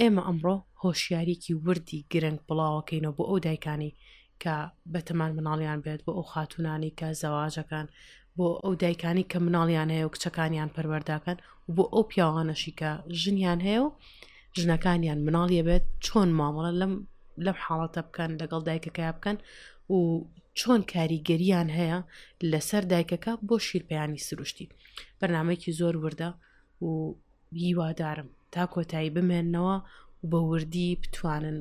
ئێمە ئەمڕۆ هۆشیاریەکی وردی گرنگ بڵاوەکەینەوە بۆ ئەو دایکانی کە بەتەمان مناڵیان بێت بۆ ئەو خاتونانی کە زەواجەکان بۆ ئەو دایکانی کە مناڵیان هەیە و کچەکانیان پەروەرداکەن و بۆ ئەو پیاوانەشی کە ژنیان هەیە و ژنەکانیان مناڵیە بێت چۆن مامەڵە لەم لەم حاڵەتە بکەن لەگەڵ دایکەکە بکەن و چۆن کاریگەریان هەیە لەسەر دایکەکە بۆ شیرپیانی سروشتی بەرنمەیەکی زۆر وردە و هیوادارم تا کۆتایی بمێننەوە و بە وردی بتوانن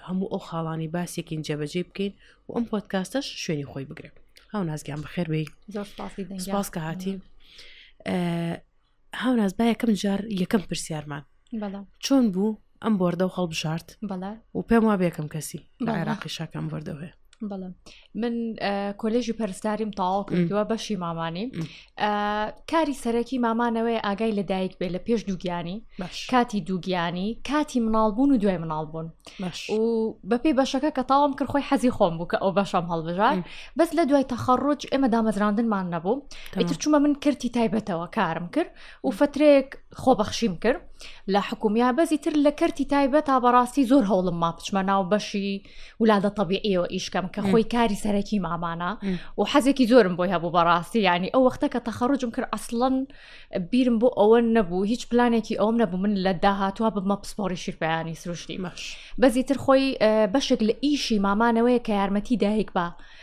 هەموو ئەو خاڵانی باسێکین جێبەجێ بکەین و ئەم پۆتکاستەش شوێنی خۆی بگرێت هاو نازگیان بەخێر بی سپاس کە هاتی هاو ناز با یەکەم جار یەکەم پرسیارمان چۆن بوو ئەم بۆردە و هەڵبژارد و پێم وا بێکم کەسی لە عێراقی شاکەم بردەوەێ بەڵێ من کۆلێژی پەرستاریم تاوا کردووە بەشی مامانی کاری سەرەکی مامانەوەی ئاگای لە دایک بێ لە پێش دووگیانی کاتی دووگیانی کاتی مناڵبوون و دوای مناڵبوون و بەپی بەشەکە کە تاوام کرد خۆی حەزی خۆم بوو کە ئەو بەشەم هەڵبژار بەس لە دوای تەخەڕۆج ئێمە دامەزراندنمان نەبوو ئیتر چوومە من کردی تایبەتەوە کارم کرد و فترێک خۆبەخشیم کرد لە حکومیا بەزی تر لە کەرتی تایبەت تا بەڕاستی زۆر هەوڵم ما بچمە ناو بەشی ولادە طببیعیەوە ئیشکەم کە خۆی کاری سەرەکی مامانە و حەزێکی زۆرم بۆی هەبوو بەڕاستی ینی ئەو وەختە کە تەخەڕجم کرد ئەسڵەن بیرم بۆ ئەوە نەبوو هیچ پلانێکی ئەوم نەبوو من لە داهاتوە بمە پسپۆری شیرپیانی سروشتی بەزی تر خۆی بەشێک لە ئیشی مامانەوەی کە یارمەتی دایک بە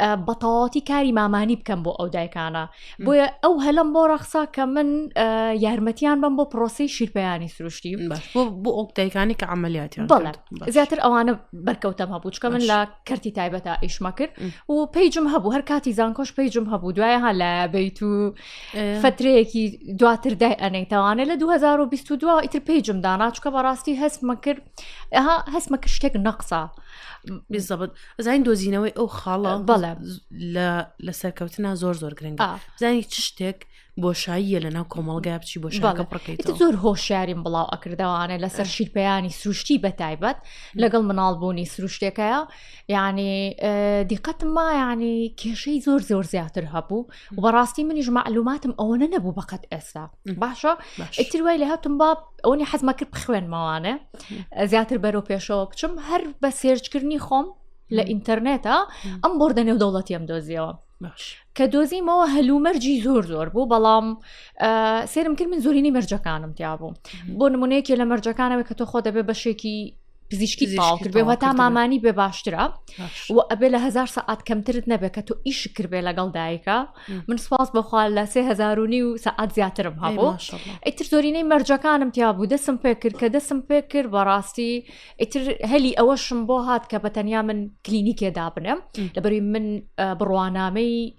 بەتەواتی کاری مامانی بکەم بۆ ئەو دایکانە بۆیە ئەو هەلم بۆ ڕەخسا کە من یارمەتیان بم بۆ پرۆسی شیرپیانی سروشتی بۆ ئەو دایکانی کە عملیاتی زیاتر ئەوانە بەرکەوتەم هەبوو چکە من لە کەرتی تایبەتە ئیشمە کرد و پیجم هەبوو هەر کاتی زانکۆش پیجم هەبوو دوای ها لە بیت و فترەیەکی دواتر دای ئەنەیتەوانێت لە 2022 ئیتر پیجم داناچکە بەڕاستی هەستمە کرد هەستمە کرد شتێک نەقسە بزەبت زانین دۆزینەوەی ئەو خاڵە بەڵێ لە سەرکەوتنا زۆر زۆر گرنگە زانی چ شتێک بۆشاییە لە ناو کۆمەڵگای بچی بۆ شەڵەکە بڕکەیت زۆر هۆشیاریم بڵاو ئەکردەوانە لەسەر شیرپیانی سروشتی بەتایبەت لەگەڵ مناڵبوونی سروشتێکەیە یعنی دیقەتم ما ینی کێشەی زۆر زۆر زیاتر هەبوو و بەڕاستی منیش معلوماتم ئەوەنە نەبوو بەقەت ئێستا باشە ئیتر وای لە هاتم با ئەوەنی حەزمە کرد بخوێنمەوانێ زیاتر بەرەو پێشەوە بچم هەر بە سێرچکردنی خۆم لە ئینتەرنێتە ئەم بردە نێو دەوڵەتیم دۆزیەوە کە دۆزیمەوە هەلومەرجی زۆر زۆر بوو بەڵام سێرم کرد من زۆرینی مەرجەکانم تیا بوو بۆ نمونەیەکی لە مەرجەکانەوە کە تۆ خۆ دەبێ بەشێکی پزیشکی تاو کردێ و هەتا مامانی بێ باشترە و ئەبێ لە هزار سەعات کەمترت نەبێت کە تۆ ئیش کردێ لەگەڵ دایکە من سپاس بەخوا لە سێ هزارونی و سەعات زیاترم هەبوو ئیتر زۆرینەی مەرجەکانم تیا بوو دەسم پێ کرد کە دەسم پێ کرد بەڕاستی ئیتر هەلی ئەوەشم بۆ هات کە بە تەنیا من کلینیکێدا بنێم لەبەری من بڕوانامەی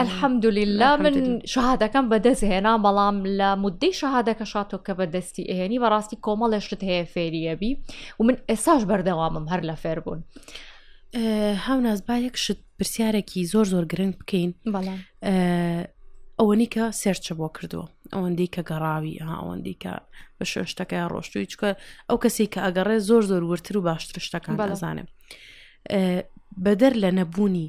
ئەلحەمدلیلا من شهادەکەم بەدەست هێنا بەڵام لە مدەی شهادەکە شاتۆ کە بەدەستی ئێنی بەڕاستی کۆمەڵێشت هەیە فێریەبی و من ئێساش بەردەوامم هەر لە فێر بوون. هاوناز با یەک شت پرسیارێکی زۆر زۆر گرنگ بکەین ئەوەنی کە سێرچە بۆ کردووە ئەوەندەی کە گەڕاوی ئەوەندی کە بە شوێشتەکەی ڕۆشتوی چکە ئەو کەسی کە ئەگەڕێ زۆر زۆر ورتر و باشتر شتەکان بەزانێ بەدەر لە نەبوونی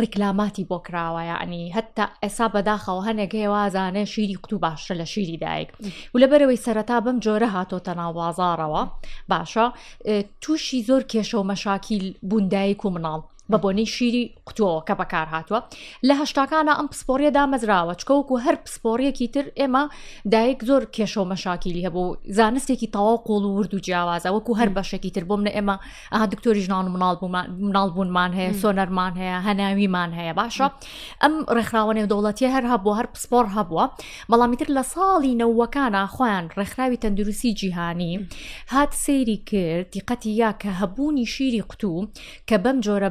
ڕیکلاماتی بۆ کراوە یعنی هەتا ئێسا بەداخەوە هەنێک هەیە وازانێ شیری قوتو باشتر لە شیری دایک و لە بەرەوەی سەرەتا بەم جۆرە هاتۆتە ناو بازارەوە باشە تووشی زۆر کێشە و مەشاکیل بووندایک و مناڵ بە بۆنەی شیری قوتۆوە کە بەکار هاتووە لە هەشتاکانە ئەم پسپۆریە دامەزراوە چکەوەکو هەر پسپۆریەکی تر ئێمە دایک زۆر کێشە و مەشاکیلی هەبوو زانستێکی تەواو قۆڵ و ورد و جیاوازە وەکو هەر بەشێکی تر بۆ منە ئێمە ئەها دکتۆری ژنان و مناڵ مناڵ بوونمان هەیە سۆنەرمان هەیە هەناویمان هەیە باشە ئەم ڕێکخراوە نێودەوڵەتی هەر هەبووە هەر پسپۆر هەبووە بەڵامیتر لە ساڵی نەوەکانە خۆیان ڕێکخراوی تەندروستی جیهانی هات سەیری کرد دیقەتی یا کە هەبوونی شیری قوتوو کە بەم جۆرە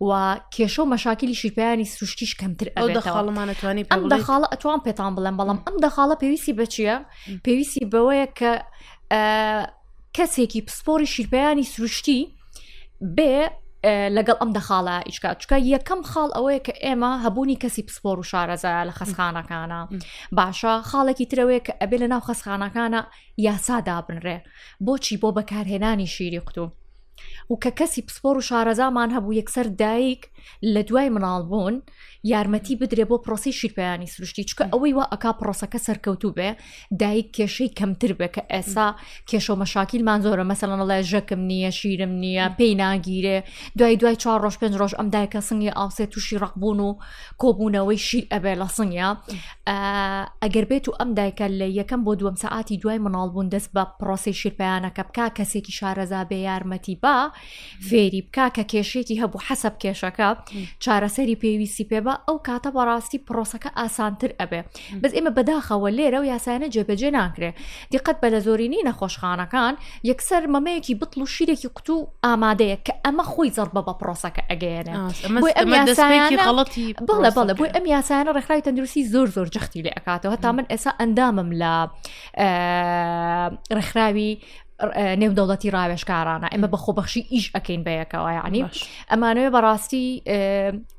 و کێشە و مەشاکلی شیرپیانی سروشتیش کەمتر ئەو دەخاڵمانەتوانی ئەم دەخاڵە ئەتوان پێتان بڵێم بەڵام ئەم دەخاڵە پێویستی بەچیە پێویستی بەوەیە کە کەسێکی پسپۆری شیرپیانی سروشتی بێ لەگەڵ ئەم دەخاڵە ئیشکا چکە یەکەم خاڵ ئەوەیە کە ئێمە هەبوونی کەسی پسپۆر و شارەزە لە خەسخانەکانە باشە خاڵێکی ترەوەیە کە ئەبێ لە ناو خەسخانەکانە یاسا دابنرێ بۆچی بۆ بەکارهێنانی شیری قوتوو و کە کەسی پسپۆر و شارەزامان هەبوو یەکسەر دایک لە دوای مناڵ بوون یارمەتی بدرێ بۆ پرۆسی شیرپیانی سروشتی چکە ئەوەی وا ئەک پرۆسەکە سەرکەوتوو بێ دایک کێشەی کەمتر بێ کە ئێسا کێشە و مەشاکیلمان زۆرە مەسەلەن ڵێ ژەکم نییە شیرم نییە پێی ناگیرێ دوای دوای چوار ڕۆژ پێنج ڕۆژ ئەم دایکە سنگی ئاوسێ تووشی ڕقبوون و کۆبوونەوەی شیر ئەبێ لە سنگە ئەگەر بێت و ئەم دایکە لە یەکەم بۆ دووەم سەعاتی دوای مناڵبوون دەست بە پرۆسی شیرپیانەکە بک کەسێکی شارەزا بێ یارمەتی با فێری بک کە کێشێکی هەبوو حەسب کێشەکە چارەسەری پێویستی پێ بە ئەو کاتە بەڕاستی پرۆسەکە ئاسانتر ئەبێ بەس ئێمە بەداخەوە لێرە و یاسایانە جێبەجێ ناکرێ دیقەت بە لە زۆرینەی نەخۆشخانەکان یەکسەر مەمەیەکی بتڵ و شیرێکی قوت و ئامادەیە کە ئەمە خۆی زەربە بە پرۆسەکە ئەگەیەنێت بڵێ بڵێ بۆی ئەم یاسایانە ڕێکخراوی تەندروستی زۆر زۆر جەختی لێ ئەکاتەوە هەتا من ئێسا ئەندامم لە ڕێکخراوی نێودەوڵەتی ڕاوێشکارانە ئێمە بە خۆبەخشی ئیش ئەەکەین بەیەکەوە ینی ئەمانەوێ بەڕاستی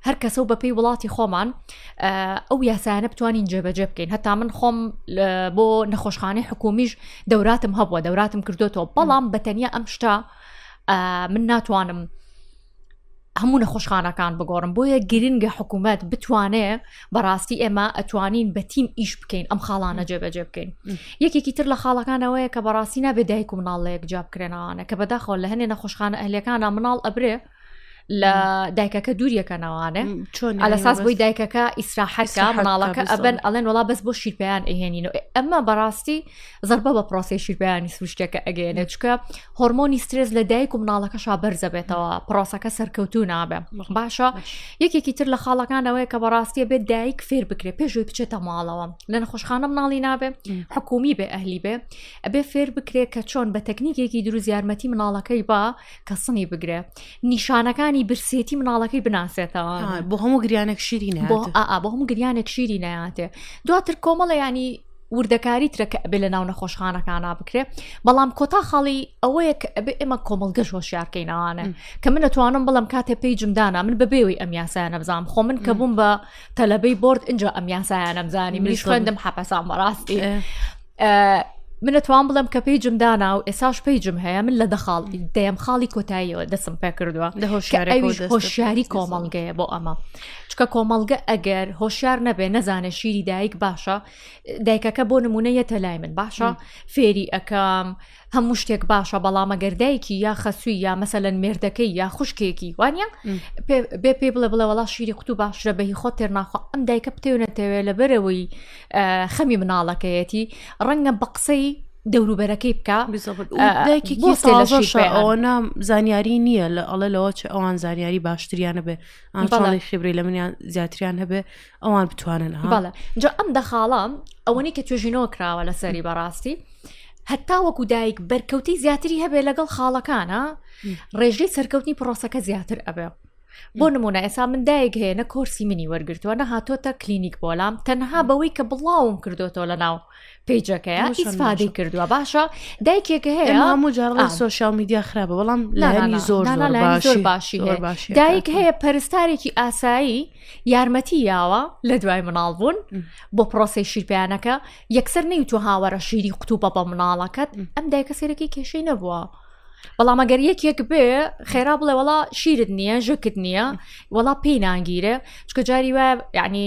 هەر کەسە و بەپی وڵاتی خۆمان ئەو یاسایانە بتوانین جێبەجێ بکەین هەتا من خۆم بۆ نەخۆشخانەی حکومیش دەوراتم هەبووە دەوراتم کردوێتەوە بەڵام بەتەنیا ئەم شتا من ناتوانم هەموو نەخۆشخانەکان بگۆڕم بۆیە گرنگە حکوومەت بتوانێ بەڕاستی ئێمە ئەتوانین بە تیم ئیش بکەین ئەم خاڵانە جێبەجێ بکەین یەکێکی تر لە خاڵەکانەوەیە کە بەڕاستی نابێ دایک و مناڵەیەک جیاب کرێنەوانە کە بەداخۆ لە هەنێ نەخۆشخانە ئەهلەکانە مناڵ ئەبرێ لە دایکەکە دووریەکەنەوانێ چۆن لە ساز بۆی دایکەکە ئیسراحەکە مناڵەکە ئەبن ئەڵێن وڵا بەس بۆ شیرپیان ئەهێنین و ئەمە بەڕاستی زربە بە پرۆسی شیرپیانی سروشتەکە ئەگەێنێ چکە هۆرمۆنی سترێز لە دایک و مناڵەکە شابەرزە بێتەوە پرۆسەکە سەرکەوتو نابێ باشە یەکێکی تر لە خاڵەکانەوەی کە بەڕاستیە بێت دایک فێر بکرێ پێشوی بچێتە ماڵەوە لە نەخۆشخانە مناڵی نابێ حکومی بێ ئەهلی بێ ئەبێ فێر بکرێ کە چۆن بە تەکنیکێکی دروست یارمەتی مناڵەکەی با کە سنی بگرێ نیشانەکانی برسێتی مناڵەکەی بناسێتەوە بۆ هەموو گریانێک شیری بۆ بۆ هەموو گریانێک شیری ناتێ دواتر کۆمەڵە ینی وردەکاری ترەکە ئەبێ لە ناو نەخۆشخانەکانە بکرێ بەڵام کۆتا خاڵی ئەوەیە کە ئەبێ ئێمە کۆمەلگەش هۆشیارکەینەوانە کە من نەتوانم بڵم کاتێ پێی جمدانا من بەبێەوەی ئەم یاسایانە بزانام خۆ من کە بووم بە تەلەبەی برد اینجا ئەم یاسایانە بزانانی منیش خوێندم حەپەسان بەڕاستی من ئەتوان بڵم کە پێیجم دانا و ئێساش پێیجم هەیە من لە دەخاڵ دەیەم خاڵی کۆتاییەوە دەسم پێ کردووە هۆشیاری کۆمەڵگەیە بۆ ئەمە چکە کۆمەڵگە ئەگەر هۆشیار نەبێ نەزانێ شیری دایک باشە دایکەکە بۆ نمونە یەتە لای من باشە فێری ئەەکەم هەموو شتێک باشە بەڵام ئەگەر دایکی یا خەسووی یا مەسەلەن مێردەکەی یا خوشکێکی وانە بێ پێی بڵێ بڵێ وڵا شیری قوتو باشرە بەهی خۆ تێرناخوا ئەم دایکە پتێونەتەوێت لە بەرەوەی خەمی مناڵەکەیەتی ڕەنگە بە قسەی دەوروبەرەکەی بکە ئەوە نام زانیاری نییە لە ئەڵە لەوە چ ئەوان زانیاری باشتریانە بێ ئەنڵی خبری لە منیان زیاتریان هەبێ ئەوان بتوانن بەڵێ جا ئەم دەخاڵام ئەوەنی کە توێژینەوە کراوە لە سەری بەڕاستی هەتا وەکو دایک بەرکەوتی زیاتری هەبێ لەگەڵ خاڵەکانە ڕێژەی سەرکەوتنی پرۆسەکە زیاتر ئەبێ بۆ نمونە ئێسا من دایک هەیە نە کۆرسی منی وەرگتووە نە هاتۆتە کلینیک بۆلام تەنها بەوەی کە بڵاوم کردوەوە لە ناو پیجەکەیە ئیسفادەی کردووە باشە دایکێکە هەیە هەموو جاڕڵی سوۆشال میدیا خراپە بەڵام لایانی زۆر زۆر باشی باشی دایک هەیە پەرستارێکی ئاسایی یارمەتی یاوە لە دوای مناڵ بوون بۆ پرۆسی شیرپیانەکە یەکسەر نەی تو هاوەرە شیری قوتوبە بە مناڵەکەت ئەم دایکە سێرەکی کێشەی نەبووە. بەڵام ئەگەر یەکێک بێ خێرا بڵێ وڵا شیرت نییە ژکت نییە وڵا پێی ناگیرێ چکە جاری وایە یعنی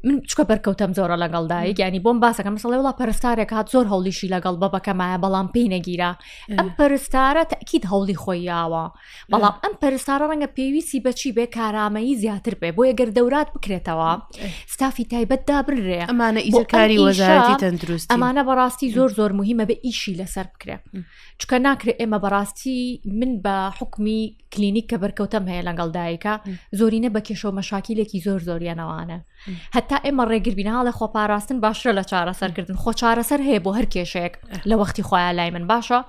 من چکە بەرکەوتم زۆرە لەگەڵ دایک ینی بۆم باسەکە مەسەڵی وڵا پەرستارێک هاات زۆر هەولیشی لەگەڵ بەبەکەمایە بەڵام پێی نەگیرا ئەم پەرستارە تاکیید هەوڵی خۆی یاوە بەڵام ئەم پەرستارە ڕەنگە پێویستی بەچی بێ کارامەیی زیاتر بێ بۆ یەگەر دەورات بکرێتەوە ستافی تایبەت دابرێ ئەمانە ئیزەکاری وەزارتی تەندروست ئەمانە بەڕاستی زۆر زۆر مهمە بە ئیشی لەسەر بکرێ چکە ناکرێت ئێمە بەڕاستی من بە حکمی کلینیک کە بەرکەوتم هەیە لەگەڵ دایکە زۆرینە بە کێشەوە مەشاکیلێکی زۆر زۆریانەوانە هەتا ئێمە ڕێگربین هاڵە خۆ پاراستن باشە لە چارەسەرکردن خۆ چارەسەر هەیە بۆ هەر کێشەیەک لە وەختی خۆیان لای من باشە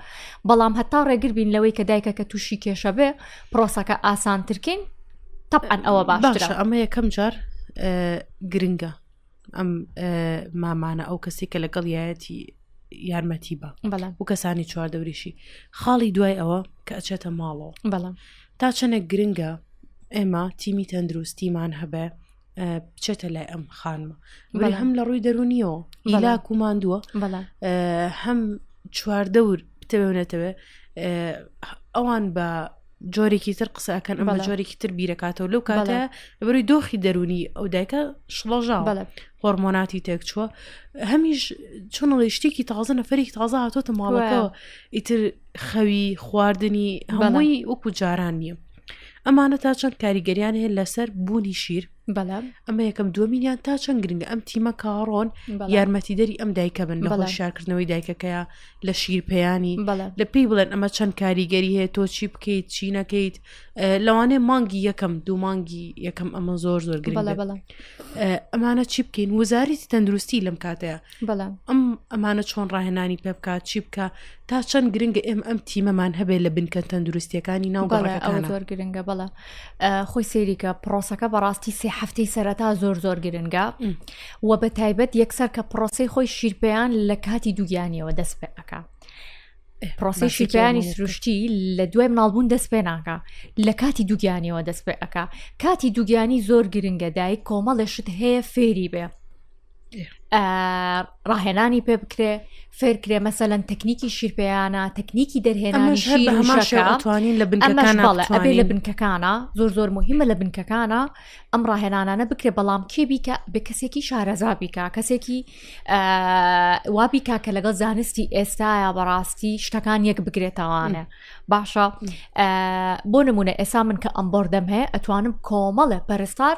بەڵام هەتا ڕێگربین لەوەی کە دایکە کە تووشی کێشە بێ پرۆسەکە ئاسانترکەین طبعا ئەوە باشە ئەمە یەکەم جار گرنگە ئەم مامانە ئەو کەسی کە لەگەڵ یایەتی یارمەتی بە و کەسانی چواردەوریشی خاڵی دوای ئەوە کە ئەچێتە ماڵەوە بەڵام تا چەنێک گرنگە ئێمە تیمی تەندروستیمان هەبێ بچێتە لای ئەم خانمە بەڵێ هەم لە ڕووی دەرونیەوە ئیلاک و ماندووە هەم چواردەور بتەوێنێتەوێ ئەوان بە جۆرێکی تر قسە ئەکەن ئەمە جۆرێکی تر بیرەکاتەوە لەو کاتە لەبەروی دۆخی دەرونی ئەو دایکە شڵەژا هۆرمۆناتی تێک چووە هەمیش چۆنڵی شتێکی تازە نەفرێکی تازە هاتۆتە ماڵەکەەوە ئیتر خەوی خواردنی هەمووی وەکو جاران نییە ئەمانە تا چەند کاریگەریان هەیە لەسەر بوونی شیر بەڵام ئەمە یەکەم دووەمینیان تا چەند گرنگە ئەم تیمە کاڕۆن یارمەتی دەری ئەم دایکە بن بەڵە شارکردنەوەی دایکەکەیە لە شیرپیانی لە پێی بڵێن ئەمە چەند کاریگەری هەیە تۆ چی بکەیت چی نەکەیت لەوانەیە مانگی یەکەم دوو مانگی یەکەم ئەمە زۆر زۆر گرنگ ئەمانە چی بکەین وزاری تەندروستی لەم کاتەیە بەڵام ئەم ئەمانە چۆن ڕاهێنانی پێ بکات چی بکە تا چەند گرنگە ئێم ئەم تیمەمان هەبێت لە بنکە تەندروستیەکانی ناو زۆر گرنگە بەڵە خۆی سێریکە پرۆسەکە بەڕاستی سێ هەفتەی سەرەتا زۆر زۆر گرنگە و بە تایبەت یەکسەر کە پرۆسی خۆی شیرپیان لە کاتی دووگیانیەوە دەست پێ ئەک پرۆسی شیرپیانی سروشتی لە دوای مناڵبوون دەست پێ ناکە لە کاتی دووگیانیەوە دەست پێ ئەک کاتی دووگیانی زۆر گرنگە دایک کۆمەڵێ شت هەیە فێری بێ ڕاهێنانی پێ بکرێ فێرکرێ مەسەەن تەکنیکی شیرپیانە تەکنیکی دەرهێنانیشەکانتوانین لە بنەبێ لە بنکەکانە زۆر زۆر مهمە لە بنکەکانە ئەم ڕاهێنانانە بکرێ بەڵام کێ بیکە بە کەسێکی شارەزا بیکە کەسێکی وابیکا کە لەگەڵ زانستی ئێستاە بەڕاستی شتەکان یەک بگرێتەوانە باشە بۆ نمونە ئێسا من کە ئەم بردەم هەیە ئەتوانم کۆمەڵە پەرستار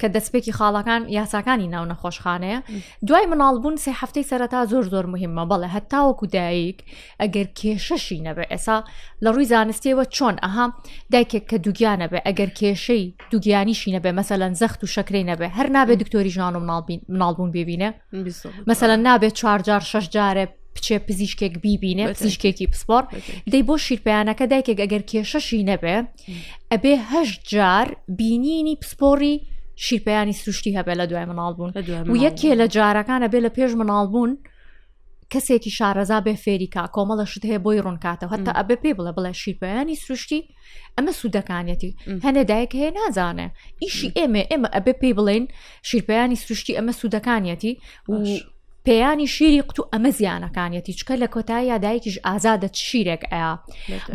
کە دەستپێکی خاڵەکان یاساکانی ناو نەخۆشخانەیە دوای مناڵبوون سێ هەفتەی سەرەتا زۆر زۆر مهمە بەڵێ هەتاوەکو دایک ئەگەر کێشەشی نەبێ ئێسا لە ڕووی زانستیەوە چۆن ئەها دایکێک کە دوگیانە بێ ئەگەر کێشەی دوگیانیشی نەبێ مەسەلەن زەخت و شەکرەی نەبێ هەر نابێ دکتۆری ژان و مناڵبوون ببینە مەسەلەن نابێت چوارجار شش جارێ بچێ پزیشکێک بیبینێ پزیشکێکی پسپۆر دەی بۆ شیرپیانەکە دایکێک ئەگەر کێشەشی نەبێ ئەبێ هەشت جار بینینی پسپۆری شیرپیانی سروشتی هەبێ لە دوای مناڵ بوون و یەکێ لە جارەکانە بێ لە پێش مناڵ بوون کەسێکی شارەزا بێ فێریکا کۆمەڵە شت هەیە بۆی ڕوونکاتەوە هەتا ئەبێ پێ بڵێ بڵێ شیرپیانی سروشتی ئەمە سوودەکانەتی هەنێ دایک هەیە نازانێ ئیشی ئێمە ئێمە ئەبێ پێی بڵێن شیرپیانی سروشتی ئەمە سوودەکانیەتی پێیانی شیری قوتو ئەمە زیانەکانیەتی چکە لە کۆتایی یادایکیش ئازادە شیرێک ئەیا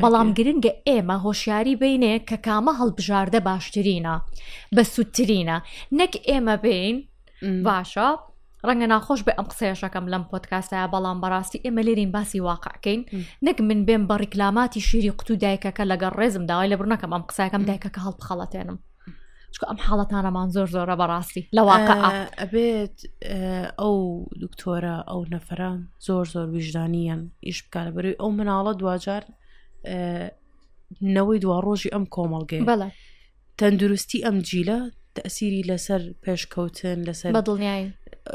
بەڵام گرنگە ئێمە هۆشیاری بینێ کە کامە هەڵبژاردە باشترینە بە سوودترینە نەک ئێمە بین باشە ڕەنگە ناخۆش بێ ئەم قسەیەشەکەم لەم پۆتکاسە بەڵام بەڕاستی ئێمە لێرین باسی واقعکەین نەک من بێم بە ڕیکلاماتی شیری قوتو دایکەکە لەگەڵ ڕێزم داوای لە بڕنەکەم ئەم قسەکەم دایکەکە هەڵبخەڵەتێنم چکە ئەم حاڵەتانەمان زۆر زۆرە بەڕاستی لە واقع ئەبێت ئەو دکتۆرە ئەو نەفرە زۆر زۆر ویژدانیان ئیش بکارە بەروی ئەو مناڵە دواجار نەوەی دوا ڕۆژی ئەم کۆمەڵگەی بەڵێ تەندروستی ئەم جیلە تەسیری لەسەر پێشکەوتن لەسەر بە دڵنیایی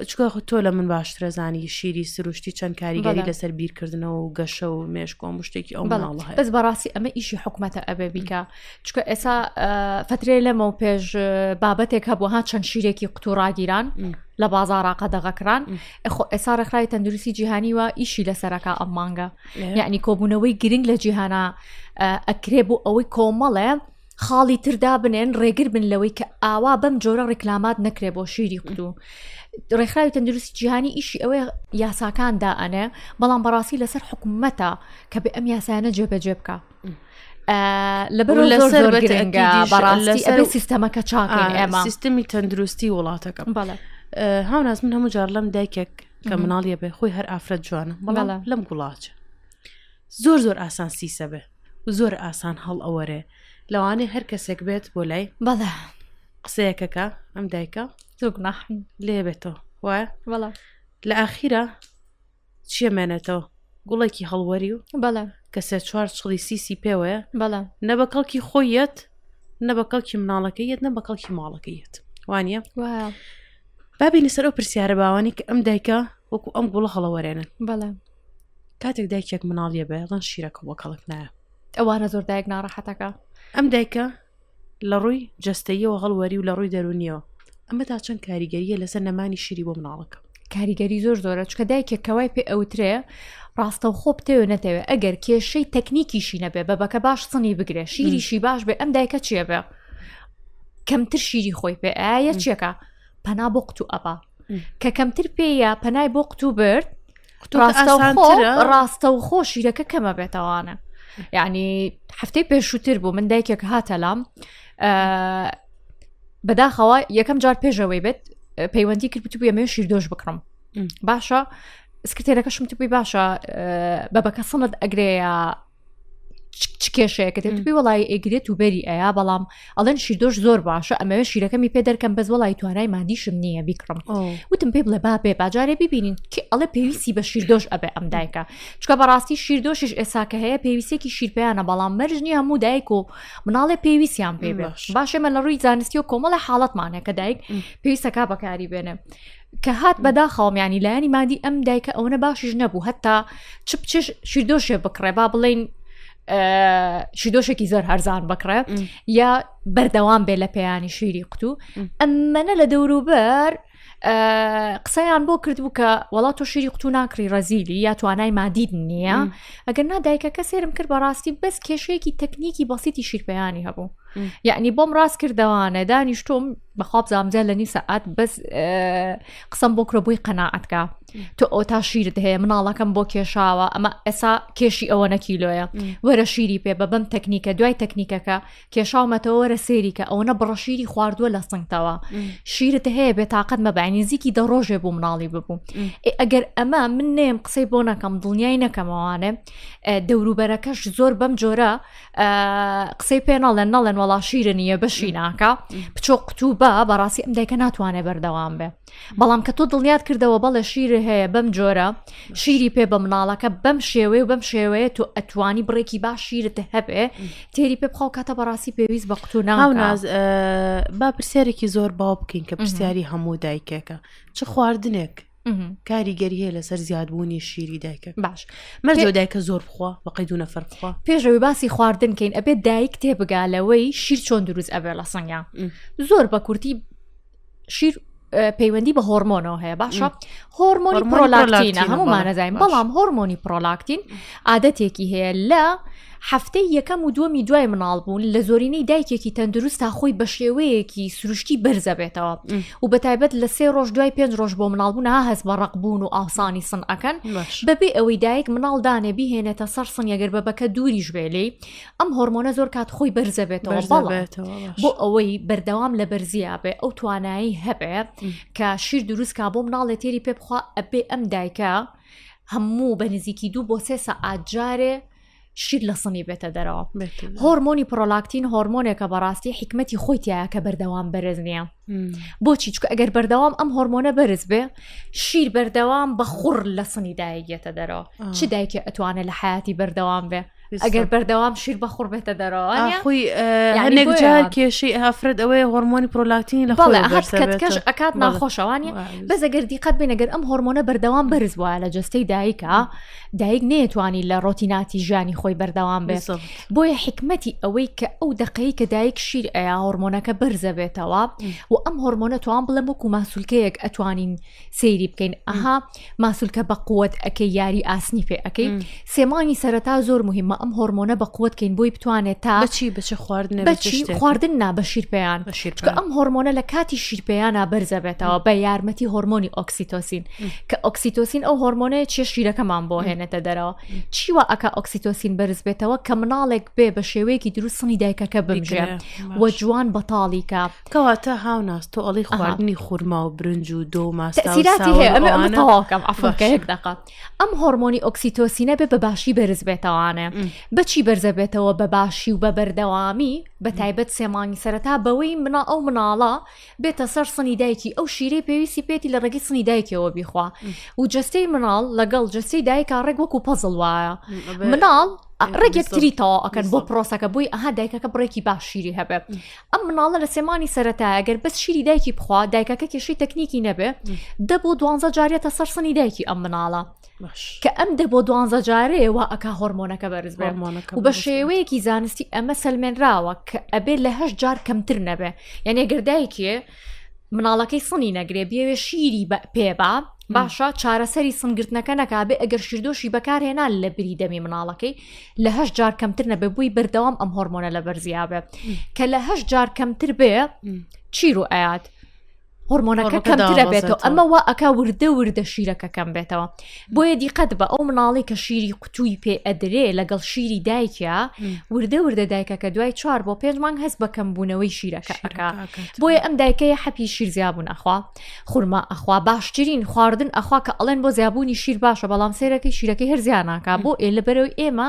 چکە خو تۆ لە من باشترە زانی شیری سروشتی چەند کاریگەری لەسەر بیرکردنەوە و گەشە و مێشکۆ مشتێکی ئەو بەڵاڵ بەس بەڕاستی ئەمە ئیشی حکوومەتە ئەبێ بیکە چکە ئێسا فترێ لەمە و پێش بابەتێک هەبوو ها چەند شیرێکی قوتوڕاگیران لە بازاراقە دەغەکران ئەخۆ ئێسا ڕێکخراوی تەندروستی جیهانی وە ئیشی لەسەرەکە ئەم مانگە یعنی کۆبوونەوەی گرنگ لە جیهانە ئەکرێ بۆ ئەوەی کۆمەڵێ خاڵی تر دابنێن ڕێگر بن لەوەی کە ئاوا بەم جۆرە ڕیکلامات نەکرێ بۆ شیری قلو ڕێکخراوی تەندروستی جیهانی ئیشی ئەوەیە یاساکان دائەنێ بەڵام بەڕاستی لەسەر حکوومەتە کە بێ ئەم یاسایانە جێبەجێ بکە لەبەر لەسەر بەتەنگە بەڕاستی ئەبێ سیستەمەکە چاکەن ئێمە سیستمی تەندروستی وڵاتەکە بەڵێ هاوناز من هەموو جار لەم دایکێک کە مناڵیە بێ خۆی هەر ئافرەت جوانە بەڵام لەم گوڵاچە زۆر زۆر ئاسان سیسە بێ و زۆر ئاسان هەڵ ئەوەرێ لەوانێ هەر کەسێک بێت بۆ لای بەڵێ قسەیەکەکە ئەم دایکە زۆگناحن لێبێتەوە وایە بەڵێ لە ئاخیرە چیە مێنێتەوە گوڵێکی هەڵوەری و بەڵێ کە سێ چوار چڵی سیسی پێوەیە بەڵێ نە بە کەڵکی خۆی یەت نە بە کەڵکی مناڵەکەی یەت نە بە کەڵکی ماڵەکەی یەت وانە وایە بابینە سەر ئەو پرسیارە باوانی کە ئەم دایکە وەکو ئەم گوڵە هەڵەوەرێنن بەڵێ کاتێک دایکێک مناڵیە بێ ڵەن شیرەکە بۆ کەڵک نایە ئەوانە زۆر دایک ناڕەحەتەکە ئەم دایکە لە ڕووی جستەیەوە هەڵوەری و لە ڕووی دەرونیەوە ئەمە تا چەند کاریگەریە لەسەر نەمانی شیری بۆ مناڵەکە کاریگەری زۆر زۆرە چکە دایکێک کەوای پێ ئەوترێ ڕاستە خۆ بتەوێ نەتەوێ ئەگەر کێشەی تەکنیکیشی نەبێ بە بەکە باش سنی بگرێ شیریشی باش بێ ئەم دایکە چێ بێ کەمتر شیری خۆی پێ ئاە چیەکە پەنا بۆ قوتو ئەبا کە کەمتر پێیە پەنای بۆ قوتوو برد ڕاستە و خۆ شیرەکە کەمە بێتەوانە یعنی هەفتەی پێشووتر بوو من دایکێک هاتە لام بەداخەوە یەکەم جار پێشەوەی بێت پەیوەندی کرد بتوو ئەمێ شیر دۆش بکڕم باشە سکرتێرەکەشم توی باشە بەبەکە سەند ئەگرەیە چ کێشەیەکە دەبی وڵی ئەگرێت و بەری ئەیا بەڵام ئەڵەن شیردۆش زۆر باشە ئەمەوێ شیرەکەمی پێ دەرکەم بەس وڵی توانای مادیشم نییە بیکڕم وتم پێ بڵێ با بێ باجارێ ببینین کە ئەڵێ پێویستی بە شیردۆش ئەبێ ئەم دایکە چکە بەڕاستی شیردۆشیش ئێساکە هەیە پێویستێکی شیرپیانە بەڵام مەرجنی هەموو دایک و مناڵێ پێویستیان پێ باشەمە لە ڕووی زانستی و کۆمەڵە حاڵەتمانە کە دایک پێویستەکە بەکاری بێنێ کە هات بەداخەوەم ینی لایەنی مادی ئەم دایکە ئەوەنە باشیش نەبوو هەتا چ بچش شیردۆشێ بکڕێ با بڵین شیدۆشێکی زۆر هەرزان بکڕێ یا بەردەوام بێ لە پێیانی شیری قوتو ئەممەە لە دەوروبەر قسەیان بۆ کردبوو کە وڵا تۆ شیری قوتو ناکری ڕەزیلی یا توانای مادید نییە ئەگەر نادایکە کە سێرم کرد بەڕاستی بەس کێشەیەکی تەکنیکی بەسیتی شیرپیانی هەبوو یعنی بۆم ڕاست کردوانە دانیشتۆم بەخوا بزانام جا لە نی سەعات بەس قسەم بۆ کرۆ بووی قەنەعاتکە تۆ ئەو تا شیرت هەیە مناڵەکەم بۆ کێشاوە ئەمە ئێسا کێشی ئەوە نەکیلۆیە وەرە شیری پێ بە بەم تەکنیکە دوای تەکنیکەکە کێشاومەتەوە وەرە سێریکە ئەوە نە بڕە شیری خواردووە لە سنگتەوە شیرت هەیە بێ تااقەت مەبانی زیکی دە ڕۆژێ بوو مناڵی ببوو ئەگەر ئەمە من نێم قسەی بۆ نەکەم دڵنیای نەکەمەوانێ دەوروبەرەکەش زۆر بەم جۆرە قسەی پێ ناڵێن ناڵێن وەڵا شیرە نیە بەشی ناکە بچۆ قوتوبە بەڕاستی ئەم دایکە ناتوانێت بەردەوام بێ بەڵام کە تۆ دڵنیات کردەوە بەڵێ شیر هەیە بەم جۆرە شیری پێ بە مناڵەکە بەم شێوەیە و بەم شێوەیە تۆ ئەتوانی بڕێکی باش شیرت هەبێ تێری پێ بخەو کاتە بەڕاستی پێویست بە قوتو ناوناز با پرسیارێکی زۆر باو بکەین کە پرسیاری هەموو دایکێکە چ خواردنێک کاریگەری هەیە لەسەر زیادبوونی شیری دایکە باش مەرجۆ دایکە زۆر بخوا بەقی دوونە فەرخوا پێشەوەی باسی خواردن کەین ئەبێت دایک تێبگا لەوەی شیر چۆن دروست ئەبێ لە سەنگە زۆر بە کورتی شیر پەیوەندی بە هۆرمۆنەوە هەیە باشە هۆرمۆنی پرۆلاکتینە هەمومانەزانین بەڵام هۆرمۆنی پرۆلاکتین عادەتێکی هەیە لە هەفتەی یەکەم و دووەمی دوای مناڵ بوون لە زۆرینەی دایکێکی تەندروست تا خۆی بە شێوەیەکی سروشتی بەرزەبێتەوە و بە تایبەت لە سێ ڕۆژ دوای پێنج ڕۆژ بۆ مناڵبوون ها هەست بە ڕقبوون و ئاوسانی سن ئەەکەن بەبێ ئەوەی دایک مناڵ دانێ بهێنێتە سەر سنگەگەر بە بەکە دووریش بێلی ئەم هۆرمۆنە زۆر کات خۆی بەرزەبێتەوە بۆ ئەوەی بەردەوام لە بەرزیا بێ ئەو توانایی هەبێ کە شیر دروستکە بۆ مناڵێ تێری پێ بخوا ئەبێ ئەم دایکە هەموو بە نزیکی دوو بۆ سێ سەعات جارێ شیر لە سنی بێتە دەرەوە هۆرمۆنی پرۆلاکتین هۆرمۆنێکە بەڕاستی حکمەتی خۆیتیایە کە بەردەوام بەرز نییە بۆچی چکە ئەگەر بەردەوام ئەم هۆرمۆنە بەرز بێ شیر بەردەوام بە خوڕ لە سنی دایگێتە دەرەوە چ دایکێ ئەتوانێت لە حیاتی بەردەوام بێ ئەگەر بەردەوام شیر بەخوڕ بێتە دەرەوە خۆی هەنێک جار کێشی ئافرەت ئەوەیە هۆرمۆنی پرۆلاکتین لە خۆڵەکەش ئەکات ناخۆشەوانی بەس ئەگەر دیقەت بینەگەر ئەم هۆرمۆنە بەردەوام بەرز وایە لە جستەی دایکە دایک نێتوانی لە ڕۆتیناتی ژیانی خۆی بەردەوام بێت بۆیە حکمەتی ئەوەی کە ئەو دقەی کە دایک شیر ئەیا هۆرمۆنەکە بەرزە بێتەوە و ئەم هۆرمۆنە توان بڵێ وەکو ماسولکەیەک ئەتوانین سەیری بکەین ئەها ماسولکە بە قوت ئەەکەی یاری ئاسنی پێ ئەەکەی سێمانی سەرەتا زۆر مهمە ئەم هۆرمۆنە بە قوتکەین بۆی بتوانێت تا بچی بچ خواردن بچی خواردن نا بە شیرپیان ئەم هۆرمۆنە لە کاتی شیرپیانە بەرزە بێتەوە بە یارمەتی هۆرمۆنی ئۆکسیتۆسین کە ئۆکسیتۆسین ئەو هۆرمۆنەیە چێ شیرەکەمان بۆ هێنێتە دەرەوە چیوە ئەکا ئۆکسیتۆسین بەرز بێتەوە کە مناڵێک بێ بە شێوەیەکی دروستنی دایکەکە بمژێت وە جوان بەتاڵیکە کەواتە هاوناس تۆ ئەڵی خواردنی خورما و برنج و دۆ ماسیراتیهەیەکەم ئەفۆکەیەک دەقات ئەم هۆرمۆنی ئۆکسیتۆسینە بێ بە باشی بەرز بێتەوانێ بەچی بەرزە بێتەوە بە باشی و بە بەردەوامی بە تایبەت سێمانی سەرەتا بەوەی منا ئەو مناڵە بێتە سەر سنی دایکی ئەو شیری پێویستی پێێتی لە ڕێگەی سنی دایکەوە بیخوا و جستەی مناڵ لەگەڵ جستی دایکا ڕێک وەکو پەزڵ وایە مناڵ ڕێگەکتریتەوە ئەکەن بۆ پرۆسەکە بووی ئەها دایکەکە بڕێکی باششیری هەبێت ئەم مناڵە لە سێ مانی سەرەتایە گەر بەس شیری دایکی بخوا دایکەکە کێشەی تەکنیکی نەبێ دە بۆ دوانزە جارێتە سەر سنی دایکی ئەم مناڵە کە ئەم دە بۆ دوانزە جارەیەوە ئەک هۆرمۆنەکە بەرز بێمانەکە بە شێوەیەکی زانستی ئەمە سلمێنراوە کە ئەبێت لە هەش جار کەمتر نەبێ یعنی گردایکێ مناڵەکەی سنی نەگرێ بێوێ شیری بە پێبا باشە چارەسەری سنگرتنەکە نەکابێ ئەگەر شیردۆشی بەکارهێنا لە بری دەمی مناڵەکەی لە هەش جار کەمتر نەبێ بووی بەردەوام ئەم هۆرمۆنە لە بەرزیابێ کە لە هەش جار کەمتر بێ چیر و ئاات هۆرمۆنەکە کەمترە بێتەوە ئەمە وا ئەک وردە وردە شیرەکە کەم بێتەوە بۆیە دیقەت بە ئەو مناڵی کە شیری قوتووی پێ ئەدرێ لەگەڵ شیری دایکە وردە وردە دایکە کە دوای چوار بۆ پێنج مانگ هەست بە کەمبوونەوەی شیرەکە ئەکا بۆیە ئەم دایکەیە حەپی شیرزیابوون ئەخوا خورما ئەخوا باشترین خواردن ئەخوا کە ئەڵێن بۆ زیابوونی شیر باشە بەڵام سێرەکەی شیرەکەی هەرزیانناکە بۆ ئێ لە بەرەوەی ئێمە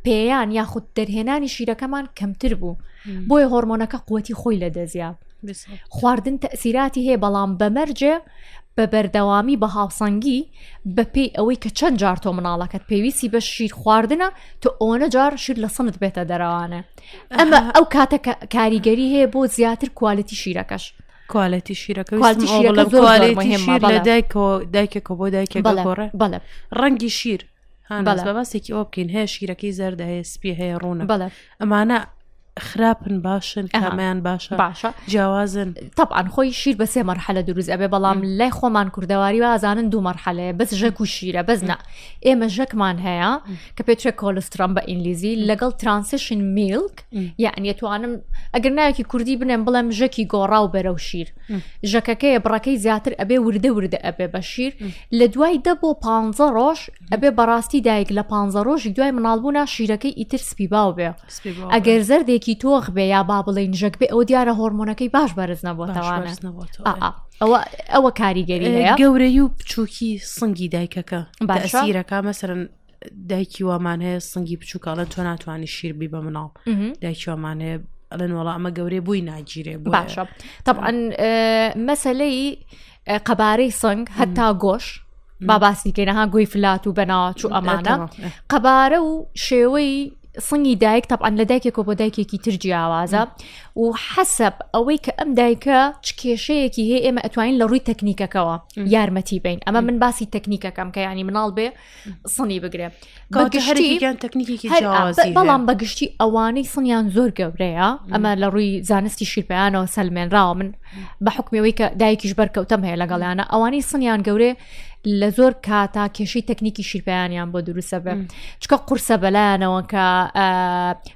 پێیان یاخود دەرهێنانی شیرەکەمان کەمتر بوو بۆیە هۆرمۆنەکە قوەتی خۆی لە دەزیا خواردن تەسیراتی هەیە بەڵام بەمەرجێ بە بەردەوامی بە هاوسەنگی بەپی ئەوەی کە چەند جار تۆ مناڵەکەت پێویستی بە شیر خواردنە تۆ ئەوەنە جار شیر لە سنت بێتە دەرەوانە ئەمە ئەو کاتە کاریگەری هەیە بۆ زیاتر کوالەتی شیرەکەش کوالەتی شیرەکە کوالتی شیرەکە بڵێم زۆر کوالەتی مهمە، شیر لە بەڵێ. دایکەوە دایکێکە بۆ دایکێک بەڵێ گۆڕێ بەڵێ ڕەنگی شیر بەڵێ. بە باسێکی ئەوە بکەین هەیە شیرەکەی زەردە هەیە سپی هەیە ڕوونە بەڵێ ئەمانە خراپن باشن ئەها. کامیان باشە باشە جیاوازن طبعا خۆی شیر بە سێ مەرحلە دروست ئەبێ بەڵام لای خۆمان کوردەواری وازانن دوو مەرحەلەیە بەس ژەک و شیرە بەس نا ئێمە ژەکمان هەیە کە پێترێک کۆلسترۆم بە ئینگلیزی لەگەڵ ترانسشن میلک یعنی توانم ئەگەر ناوێکی کوردی بنێم بڵێم ژەکی گۆڕا و بەرە و شیر ژەکەکەیە بڕەکەی زیاتر ئەبێ وردە وردە ئەبێ بە شیر لە دوای دە بۆ پ ڕۆژ ئەبێ بەڕاستی دایک لە پ ڕۆژی دوای مناڵبوونا شیرەکەی ئیتر سپی باو بێ ئەگەر زەردێکی تۆخ بێ یا با بڵین ژەک بێ ئەو دیارە هۆرمۆنەکەی باش بەرز نەبووتەوانە ئەوە ئەوە کاریگەری گەورەی و بچووکی سنگی دایکەکە باشیرەکە مەسەرن دایکی وامان هەیە سنگی بچووکە ئەڵەن تۆ ناتوانانی شیربی بە مناڵ دایکی وامان هەیە ئەڵێن وڵا ئەمە گەورەی بووی ناگیرێ باشە طبعا مەسلەی قەبارەی سنگ هەتا گۆش با باسی کەینەها گوی فلات و بەناوە چوو ئەمانە قەبارە و شێوەی سنگی دایک تەعاان لە دایکێکۆ بۆ دایکێکی تر جیاوازە و حەسب ئەوەی کە ئەم دایکە چ کێشەیەکی هەیە ئێمە ئەتوانین لە ڕووی تەکنیکەکەەوە یارمەتی بین ئەمە من باسی تەکنیکەکەم کە ینی مناڵ بێ سنی بگرێ هەرگیان تەکنیکی بەڵام بەگشتی ئەوانەی سنیان زۆر گەورەیە ئەمە لە ڕووی زانستی شیرپیانەوە سەلمێنراوە من بە حکمەوەی کە دایکیش بەرکەوتم هەیە لەگەڵیانە ئەوانەی سنیان گەورێ لە زۆر کاتا کێشەی تەکنیکی شیرپیانیان بۆ دروستە بێ چکە قورسە بەلایەنەوە کە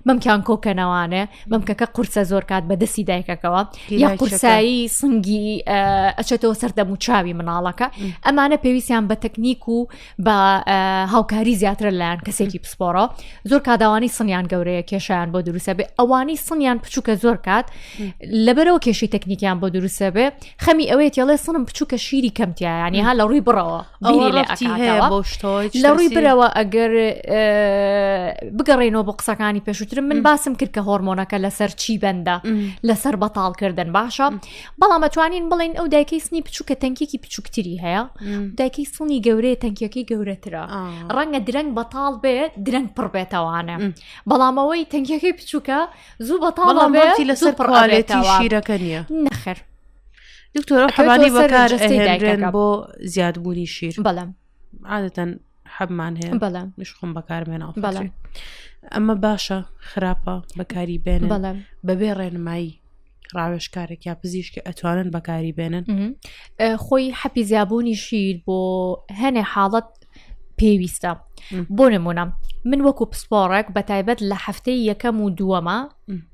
مەمکیان کۆکەنەوانێ مەمکەکە قورسە زۆر کات بە دەستی دایکەکەەوە یا قورسایی سنگی ئەچێتەوە سەر دەموچاوی مناڵەکە ئەمانە پێویستیان بە تەکنیک و بە هاوکاری زیاترە لایەن کەسێکی پسپۆڕە زۆر کاداوانی سنیان گەورەیە کێشیان بۆ دروستە بێ ئەوانی سنیان بچووکە زۆر کات لەبەرەوە کێشی تەکنیکیان بۆ دروستە بێ خەمی ئەوەیە تێڵێ سنم بچووکە شیری کەمتیایانی ها لە ڕووی بڕەوە ئەوە ڕفتی هەیە بۆ شتەوە لە ڕووی برەوە ئەگەر بگەڕێنەوە بۆ قسەکانی پێشوترم من باسم کرد کە هۆرمۆنەکە لەسەر چی بەندە لەسەر بەتاڵکردن باشە بەڵام ئەتوانین بڵین ئەو دایکەی سنی بچووکە تەنکێکی بچووکتری هەیە دایکەی سڵنی گەورەیە تەنکیەکەی گەورەترە ڕەنگە درەنگ بەتاڵ بێ درەنگ پڕ بێتەوانە بەڵامەوەی تەنکیەکەی بچووکە زوو بەتاڵ بێتی لەسەر پڕالێتی شیرەکە نیە نەخر دکتۆر حەبانی بەکار بۆ زیادبوونی شیر بەڵام عادەتەن حەبمان هەیە بەڵام مشخم بەکارمێنا بەڵام ئەمە باشە خراپە بەکاری بێن بەڵام بەبێ ڕێنمایی ڕاوێشکارێک یا پزیشکی ئەتوانن بەکاری بێنن خۆی حەپی زیابوونی شیر بۆ هەنێ حاڵەت پێویستە بۆ نمونە من وەکو پسپۆڕێک بە تایبەت لە هەفتەی یەکەم و دووەمە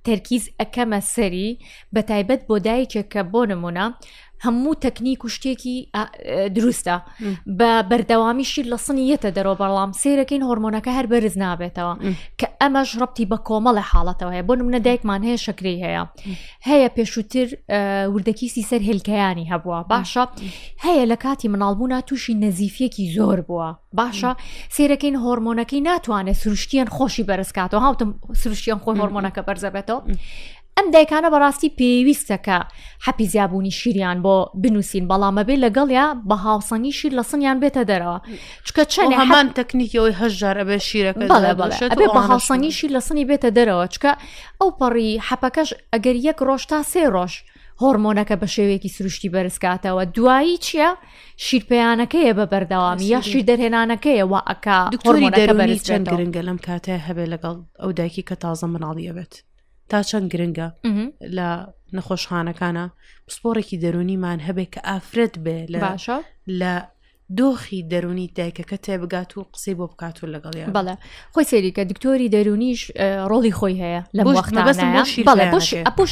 تەرکیز ئەەکەمە سەری بە تایبەت بۆ دایکێک کە بۆ نمونە هەموو تەکنیک و شتێکی دروستە بە بەردەوامیشی لە سنی یەتە دەرەوە بەڵام سیرەکەین هۆرمۆنەکە هەر بەرز نابێتەوە کە ئەمەش ڕەتی بە کۆمەڵە حاڵەتەوە هەیە بۆ منە دایکمان هەیە شکری هەیە هەیە پێشووتر وردەکیسی سەر هێلکەیانی هەبووە باشە هەیە لە کاتی مناڵبوونا تووشی نەزیفیەکی زۆر بووە باشە سێرەکەین هۆرمۆنەکەی ناتوانێت سروشتیان خۆشی بەرزکاتەوە هاوتم سروشتیان خۆی هۆرمۆنەکە بەرزەبێتەوە ئەم دایکانە بەڕاستی پێویستەکە حەپی زیابوونی شیریان بۆ بنووسین بەڵامەبێ لەگەڵیا بە هاوسەنگی شیر لە سنیان بێتە دەرەوە چکە چەند هەمان تەکنیکەوەی هەژار ئەبێ شیرەکە بە هاوسەنگی شیر لە سنی بێتە دەرەوە چکە ئەو پەڕی حەپەکەش ئەگەر یەک ڕۆژ تا سێ ڕۆژ هۆرمۆنەکە بە شێوەیەکی سروشتی بەرزکاتەوە دوایی چییە شیرپیانەکەیە بە بەردەوامی یا شیر دەرهێنانەکەیەوە ئەکا دکتۆری دەربەری چەند گرنگە لەم کاتە هەبێ لەگەڵ ئەو دایکی کە تازە مناڵیە بێت تا چەند گرنگە لە نەخۆشخانەکانە پسپۆڕێکی دەرونیمان هەبێ کە ئافرەت بێ لە باشە لە دۆخی دەرونی دایکەکە تێبگات و قسەی بۆ بکات و لەگەڵیان بەڵێ خۆی سێریکە دکتۆری دەرونیش ڕۆڵی خۆی هەیە لە بۆ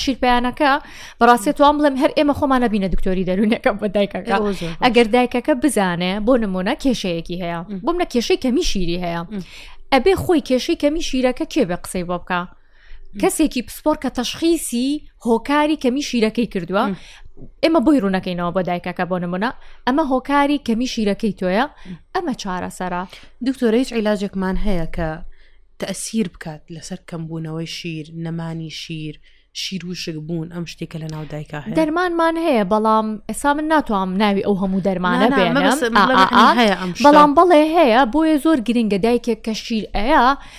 شیرپیانەکە بەڕاستێت توان بڵێم هەر ئێمە خۆمانە بینە دکتۆری دەرونەکە بە دایکەکە ئەگەر دایکەکە بزانێ بۆ نمونە کێشەیەکی هەیە بۆم لە کێشەی کەمی شیری هەیە ئەبێ خۆی کێشەی کەمی شیرەکە کێ بێ قسەی بۆ بکە کەسێکی پسپۆر کە تەشخیسی هۆکاری کەمی شیرەکەی کردووە ئێمە بۆی ڕوونەکەینەوە بۆ دایکەکە بۆ نمونە ئەمە هۆکاری کەمی شیرەکەی تۆیە ئەمە چارەسەرە دکتۆرە هیچ عیلاجێکمان هەیە کە تەسیر بکات لەسەر کەمبوونەوەی شیر نەمانی شیر شیر وشک بوون ئەم شتێکە لە ناو دایکا هەیە دەرمانمان هەیە بەڵام ئێسا من ناتوام ناوی ئەو هەموو دەرمانە بێنم بەڵام بەڵێ هەیە بۆیە زۆر گرنگە دایکێک کە شیر ئەیە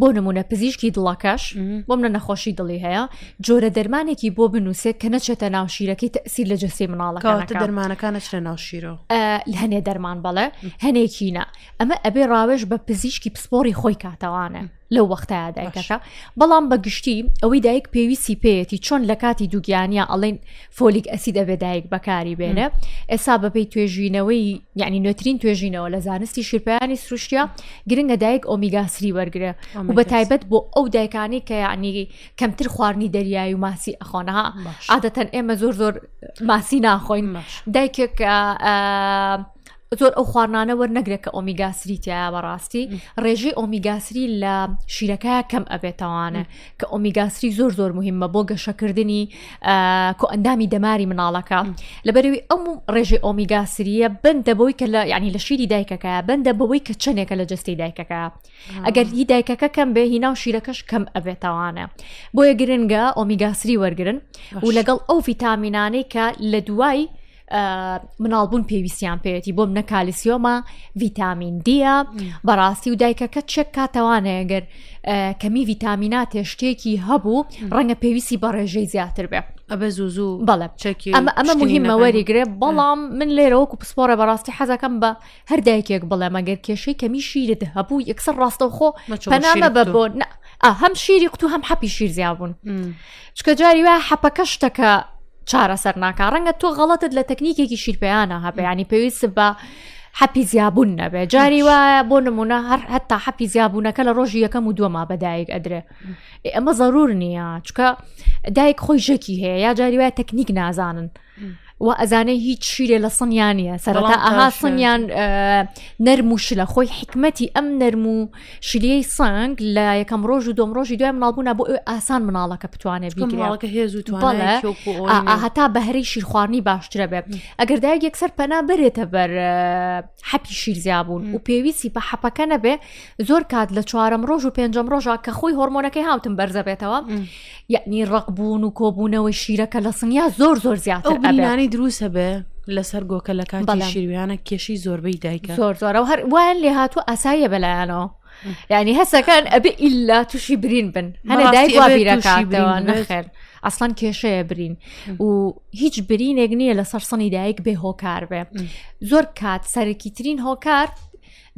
بۆ نمونە پزیشکی دڵەکەش بۆ منە نەخۆشی دڵی هەیە جۆرە دەرمانێکی بۆ بنووسێت کە نەچێتە ناوشیرەکەی تەسیر لە جەستی مناڵەکە دەرمانەکانە چرە ناوشیرۆ هەنێ دەرمان بەڵێ هەنێکینە ئەمە ئەبێ ڕاوێژ بە پزیشکی پسپۆری خۆی کاتەوانە لەو وەختایا دایکەکە بەڵام بە گشتی ئەوەی دایک پێویستی پێیەتی چۆن لە کاتی دووگیانە ئەڵین فۆلیک ئەسید ئەبێ دایک بەکاری بێنە ئێسا بەپی توێژینەوەی یعنی نوێترین توێژینەوە لە زانستی شیرپیانی سروشتیا گرنگە دایک ئۆمیگاسری وەرگرە و بە تایبەت بۆ ئەو دایکانی کە یعنی کەمتر خواردنی دەریایی و ماسی ئەخۆنەها عادەتەن ئێمە زۆر زۆر ماسی ناخۆین دایکێک زۆر ئەو خواردنانە وەرنەگرێت کە ئۆمیگاسری تایە بەڕاستی ڕێژەی ئۆمیگاسری لە شیرەکە کەم ئەبێتەوانە کە ئۆمیگاسری زۆر زۆر مهمە بۆ گەشەکردنی کۆئەندامی دەماری مناڵەکە لەبەرەوەی ئەم ڕێژەی ئۆمیگاسریە بندە بەوەی کە لە ینی لە شیری دایکەکە بندە بەوەی کە چنێکە لە جستی دایکەکە ئەگەر هی دایکەکە کەم بێ هینا و شیرەکەش کەم ئەبێتەوانە بۆیە گرنگە ئۆمیگاسری وەرگن و لەگەڵ ئەو ڤیتامینانەی کە لە دوای مناڵبوون پێویستیان پێێتی بۆم نە کالیسیۆمە ڤیتامین دیە بەڕاستی و دایکەکە چێک کاتەوانەیە گەر کەمی ڤیتامینات تێشتێکی هەبوو ڕەنگە پێویستی بە ڕێژەی زیاتر بێ ئەبە زوو زوو بەڵێ چێکی ئەمە ئەمە مهمە وەریگرێ بەڵام من لێرەوەکو پسپۆرە بەڕاستی حەزەکەم بە هەر دایکێک بڵێ مەگەر کێشەی کەمی شیرت هەبوو یەکسەر ڕاستەوخۆ پەنامە بە بۆ هەم شیری قوتو هەم حەپی شیر زیابوون چکە جاری وە حەپەکە شتەکە چارەسەر ناکە ڕەنگە تۆ غەڵەتت لە تەکنیکێکی شیرپیانە هەبیانی پێویست بە حەپی زیابوون نەبێ جاری وایە بۆ نمونە هەر هەتا حەپی زیابوونەکە لە ڕۆژی یەکەم و دووەما بەدایک ئەدرێ ئەمە ضرور نییە چکە دایک خۆی ژەکی هەیە یا جاری وایە تەکنیک نازانن و ئەزانێ هیچ شیرێ لە سنیانە سەرەتا ئەها سنیان نەرم و شلە خۆی حکمەتی ئەم نەرم و شلیەی سنگ لە یەکەم ڕۆژ و دۆم ڕۆژی دوای مناڵبوونا بۆ ئەو ئاسان مناڵەکە بتوانێت بیگرڵەکە هێز و هەتا بەهرەی شیرخواردنی باشترە بێت ئەگەر دایک یەکسەر پەنا بەرێتە بەر حەپی شیرزیابوون و پێویستی بە حەپەکە نەبێ زۆر کات لە چوارم ڕۆژ و پێنجم ڕۆژە کە خۆی هۆرمۆنەکەی هاوتم بەرزەبێتەوە یعنی ڕقبوون و کۆبوونەوەی شیرەکە لە سنیا زۆر زۆر زیاتر ئەو بینانی دروستە بێ لەسەر گۆکە لە کاتی شیرویانە کێشی زۆربەی دایکە زۆر زۆرەوە هەر وان لێ هاتوو ئاساییە بەلایەنەوە ینی هەسەکان ئەبێ ئللا تووشی برین بن هەنە دایبیرەکانەوە نەخێر ئەسڵان کێشەیە برین و هیچ برینێک نییە لە سەرسەنی دایک بێ هۆکار بێ زۆر کات سەرکیترین هۆکار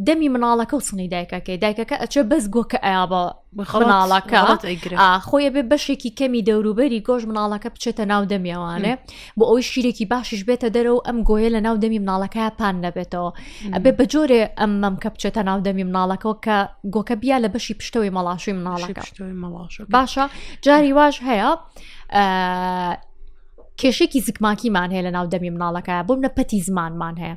دەمی مناڵەکە و سنی دایکەکەی دایکەکە ئەچێ بەس گۆکە ئایا بە مناڵەکە خۆیە بێ بەشێکی کەمی دەوروبەری گۆش مناڵەکە بچێتە ناو دەمیێوانێ بۆ ئەوی شیرێکی باشیش بێتە دەرە و ئەم گۆیە لە ناو دەمی مناڵەکە پان نەبێتەوە ئەبێ بە جۆرێ ئەم مەم کە بچێتە ناو دەمی مناڵەکەەوە کە گۆکە بیا لە بەشی پشتەوەی مەڵاشوی مناڵەکە باشە جاری واش هەیە کێشێکی زگماکیمان هەیە لە ناو دەمی مناڵەکە بۆم لە پەتی زمانمان هەیە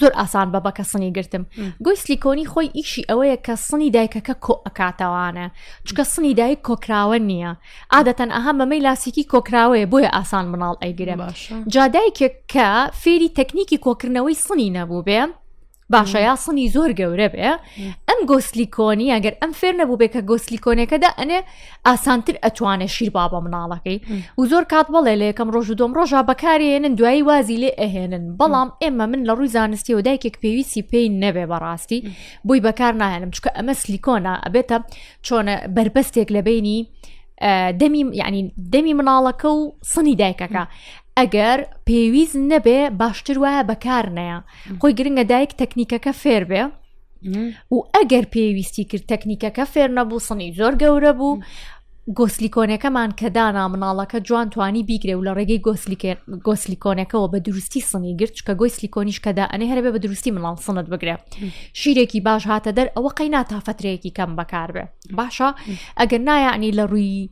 زۆر ئاسان بە بەکە سنی گرتم گوی سلیکۆنی خۆی ئیشی ئەوەیە کە سنی دایکەکە کۆ ئەکاتەوانە چکە سنی دایک کۆکراوە نییە عادەتەن ئەها مەمەی لاسیکی کۆکراوەیە بۆیە ئاسان مناڵ ئەیگرە جادایکێک کە فێری تەکنیکی کۆکردنەوەی سنی نەبوو بێ باشە یا سنی زۆر گەورە بێ ئەم گۆسلیکۆنی ئەگەر ئەم فێر نەبوو بێ کە گۆسلیکۆنەکەدا ئەنێ ئاسانتر ئەتوانێت شیر با بە مناڵەکەی و زۆر کات بەڵێ لە یەکەم ڕۆژ و دۆم ڕۆژە بەکارێنن دوایی وازی لێ ئەهێنن بەڵام ئێمە من لە ڕووی زانستیەوە دایکێک پێویستی پێی نەبێ بەڕاستی بۆی بەکار ناهێنم چکە ئەمە سلیکۆنا ئەبێتە چۆنە بربەستێک لە بینی دەمی یعنی دەمی مناڵەکە و سنی دایکەکە ئەگەر پێویست نەبێ باشتر وایە بەکار نەیە خۆی گرنگە دایک تەکنیکەکە فێر بێ و ئەگەر پێویستی کرد تەکنیکەکە فێر نەبوو سنی زۆر گەورە بوو گۆسلیکۆنەکەمان کە دانا مناڵەکە جوان توانی بیگرێ و لە ڕێگەی گۆسلیکۆنەکەەوە بە دروستی سنی گرت کە گۆی سلیکۆنیش کەدا ئەنێ هەربێ بە دروستی مناڵ سنت بگرێ شیرێکی باش هاتە دەر ئەوە قەینا تا فترەیەکی کەم بەکاربێ باشە ئەگەر نایانی لە ڕووی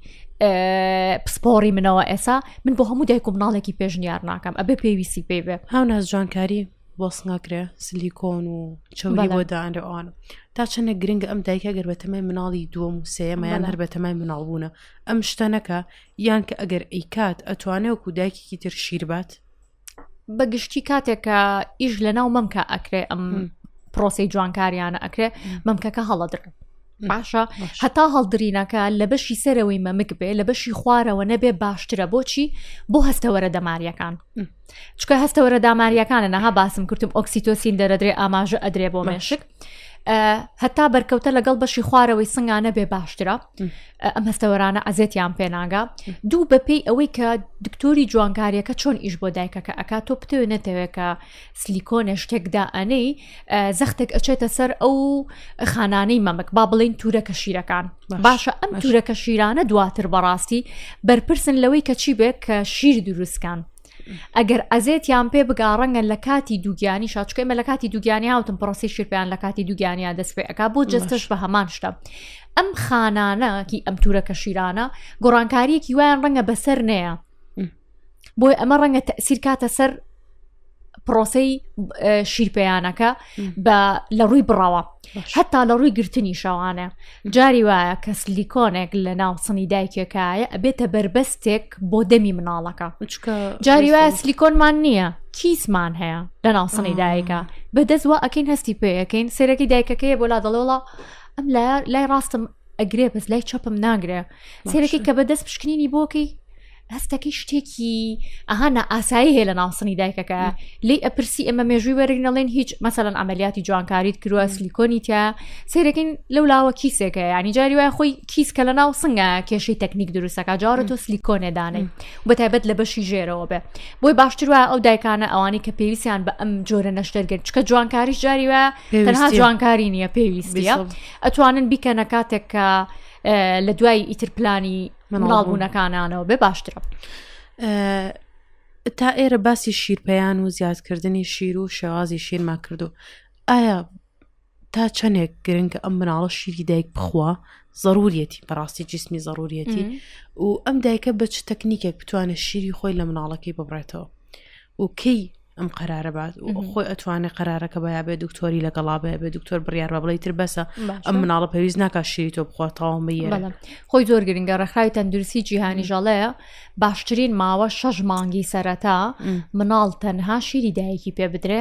پسپۆڕی منەوە ئێسا من بۆ هەموو دایک و مناڵێکی پێشنیار ناکەم ئەبێ پێویستی پێ بێ هاو ناز جوانکاری بۆس ناکرێ سلیکۆن و چەوری بۆ دانرە ئەوان تا چەنە گرنگ ئەم دایکە گەر بە تەمای مناڵی دووەم و سێمەیان هەر بە تەمای مناڵبوونە ئەم شتە نەکە یان کە ئەگەر ئەیکات ئەتوانێ وکو دایکێکی تر شیربات بە گشتی کاتێکە ئیش لە ناو مەمکە ئەکرێ ئەم پرۆسی جوانکاریانە ئەکرێ مەمکەکە هەڵەدرێ باشە هەتا هەڵدرینەکە لە بەشی سەرەوەی مەمک بێ لە بەشی خوارەوە نەبێ باشترە بۆچی بۆ هەستەوەرە دەماریەکان چکە هەستەوەرە داماریەکانە نەها باسم کردم ئۆکسیتۆسین دەرەدرێ ئاماژە ئەدرێ بۆ مێشک هەتا بەرکەوتە لەگەڵ بەشی خوارەوەی سنگانە بێ باشترە ئەم هەستەوەرانە ئەزێتیان پێناگا دوو بەپێی ئەوەی کە دکتۆری جوانکاریەکە چۆن ئیش بۆ دایکەکە ئەک تۆ پتێ نەتەوێت کە سلیکۆنێ شتێکدا ئەنەی زەختێک ئەچێتە سەر ئەو خانانەی مەمک با بڵین تورەکە شیرەکان باشە ئەم تورەکە شیرانە دواتر بەڕاستی بەرپرسن لەوەی کە چی بێت کە شیر دروستکان ئەگەر ئەزێتیان پێ بگاڕەنگە لە کاتی دووگیانی شاچکەمە لە کاتی دووگیانی هاوتم پرۆسی شیرپیان لە کاتی دووگیانیا دەست پێ ئەک بۆ جستش بە هەمان شتە ئەم خانانەکی ئەم تورەکە شیرانە گۆڕانکاریەکی وایان ڕەنگە بەسەر نەیە بۆی ئەمە ڕەنگە تەسیر کاتە سەر پرۆسەی شیرپیانەکە بە لە ڕووی بڕەوە هەتا لە ڕووی گرتنی شەوانە جاری وایە کە سلیکۆنێک لە ناو سنی دایکێکایە ئەبێتە بربەستێک بۆ دەمی مناڵەکە جاری وایە سلیکۆنمان نییە کیسمان هەیە لە ناو سنی دایکە بەدەست وە ئەکەین هەستی پێەکەین سێرەکی دایکەکەی بۆ لا دەڵێڵە ئەم لای ڕاستم ئەگرێ بەس لای چەپم ناگرێ سێرەکی کە بەدەست پشکنینی بۆکەی هەستەکەی شتێکی ئەها نائاسایی هەیە لە ناوسنی دایکەکە لی ئەپرسی ئەمە مێژووی وەرگنەڵێن هیچ مەسەن ئەمەلیاتی جوانکاریت کروە سلیکۆنی تیا سێرەکەین لەو لاوە کیسێکە ینی جاری وای خۆی کیس کە لە ناو سنگە کێشەی تەکنیک دروستەکە جارە تۆ سلیکۆنێ دانێ بە تایبەت لە بەشی ژێرەوە بێ بۆی باشتر وە ئەو دایکانە ئەوانی کە پێویستیان بە ئەم جۆرە نەشتەرگرت چکە جوانکاریش جاری وە تەنها جوانکاری نییە پێویستە ئەتوانن بیکەنە کاتێک کە لە دوای ئیتر پلانی مناڵبوونەکانانەوە بێ باشترە. تا ئێرە باسی شیرپیان و زیادکردنی شیر و شێوازی شیرما کردو ئایا تا چەندێک گرنگە ئەم مناڵە شیری دایک بخوا ضرورەتی بەڕاستی جسمی ضرورەتی و ئەم دایکە بە چ تەکنیکێک بتوانێت شیری خۆی لە مناڵەکەی ببڕێتەوە و کەی ئەم قەرارە بات خۆی ئەتوانێت قەرارەکە بە بێ دکتۆری لەگەڵا بێ بێ دکتۆر بڕیار بە بڵی تر بەسە ئەم مناڵە پێویست ناکە شیری تۆ بخواتەوە بە خۆی زۆر گرنگە ڕێکخراوی تەندروستی جیهانی ژەڵەیە باشترین ماوە شەش مانگی سەرەتا مناڵ تەنها شیری دایکی پێ بدرێ